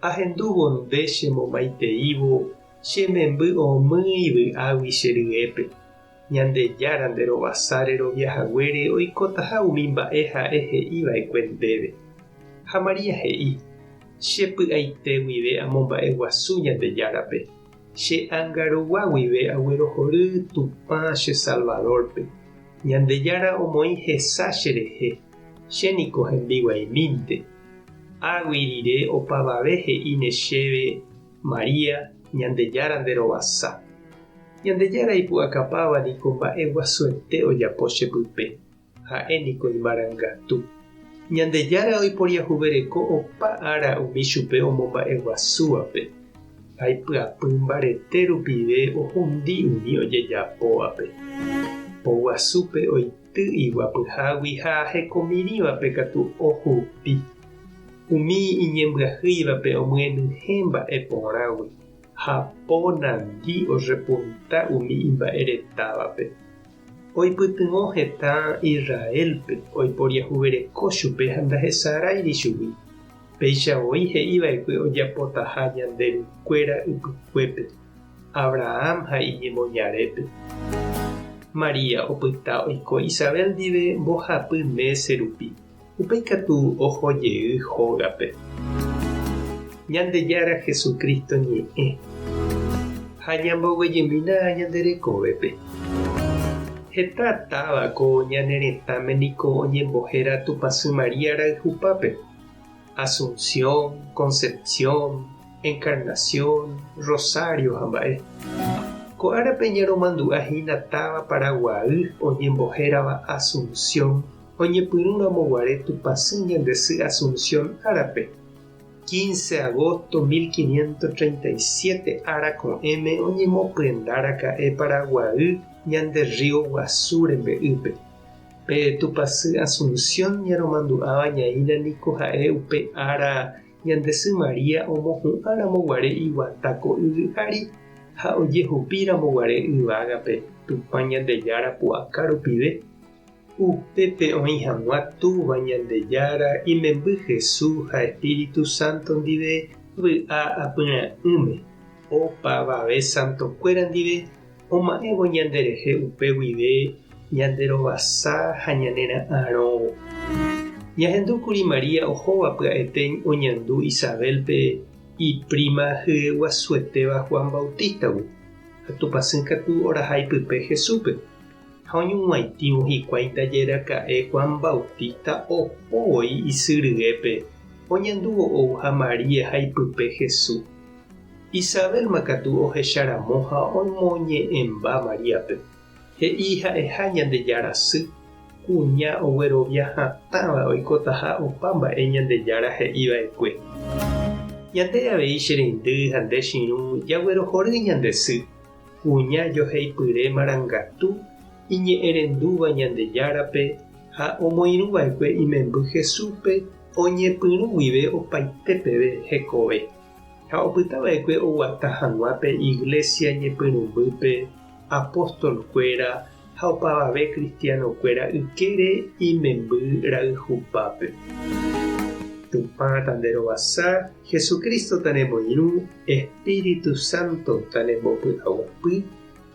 Ahendúvo nde che momaiteívo che memby omýi vy'águi che ryépe. Ñandejára nde rovasa rerovia haguére oikotaha umi mba'e ha'e he'i va'ekue ndéve. Ha María he'i, Che py'aite guive amomba'e guasu Ñandejárape. Che ánga rogua guive aguerohory Tupã che Salvador-pe. Ñandejára omoĩ hesa che rehe. Che niko hembiguaimínte. Águi rire opavave he'íne chéve, María, Ñandejára nderovasa. Ñandejára ipu'akapáva niko mba'e guasuete ojapo che pype, ha'e niko imarangatu. Ñandejára oiporiahuvereko opa ára umi chupe omomba'e guasúvape, ha ipyapy mbarete rupive ohundi umi ojejapóvape. Po guasúpe oike. Ty iguapyhágui ha hekomirĩvape katu ohupi. Umi iñembyahýivape omyenyhẽ mba'e porãgui, ha po nandi orrepunta umi imba'e retávape. Oipytyvõ heta Israélpe oiporiahuvereko chupe ha ndahesaráiri chugui, péicha voi he'iva'ekue ojapotaha ñande rykuéra ypykuépe. Abrahán ha iñemoñarépe. María opyta oiko Isabel ndive mbohapy mése rupi, upéi katu oho jey hógape. Ñandejára Jesucristo ñe'ẽ ha ñamboguejymína ñande rekovépe. Heta táva ko ñane retãme niko oñembohéra Tupãsy María rayhupápe. Asunción, Concepción, Encarnación, Rosario ha mba'e. Ko árape ñaromandu'a hína táva Paraguaýy oñembohérava Asunción oñepyrũramo guare Tupãsy ñande sy Asunción árape, 15 agosto 1537 ára ko'ẽme oñemopyendaraka'e Paraguaýy ñande rrío guasu rembe'ýpe. Pe tupasy Asunción ñaromandu'áva ñaína niko ha'e upe ára ñande sy María omohu'ã ramo guare iguata ko yvy ári ha ojehupi ramo guare yvágape Tupã Ñandejára pu'aka rupive. Upépe oĩ hag̃ua Túva Ñandejára imemby Jesús ha Espíritu Santo ndive vy'a apyrã'ỹme, opavave santokuéra ndive, oma'ẽvo ñanderehe upe guive ñanderovasa ha ñanera'arõvo. Ñahendu kuri María ohóva pya'etéi oñandu Isabélpe ipríma hyeguasuetéva Juan Bautístagui, ha tupãsy katu orahai pype Jesúspe, ha oñuguãitĩvo hikuái ndaje raka'e Juan Bautísta oho voi isy ryépe oñandúvo ou ha María ha ipype Jesús. Isabélma katu ohecha ramo ha omoñe'ẽmba Maríape, he'i ha'eha Ñandejára sy, kuña oguerovia hatãva oikotaha opa mba'e Ñandejára he'i va'ekue. Ñande avei che reindy ha nde chirũ jaguerohory ñande sy, kuña joheipyre marangatu iñe'ẽrendúva Ñandejárape ha omoirũ va'ekue imemby Jesúspe oñepyrũ guive opaite peve hekove. Ha opyta va'ekue oguata hag̃ua pe iglésia ñepyrũmbýpe apóstolkuéra ha opavave kristianokuéra ykére imemby rayhupápe. Tupã tanderovasa, Jesucristo tanemoirũ, Espíritu Santo tanembopy'aguapy,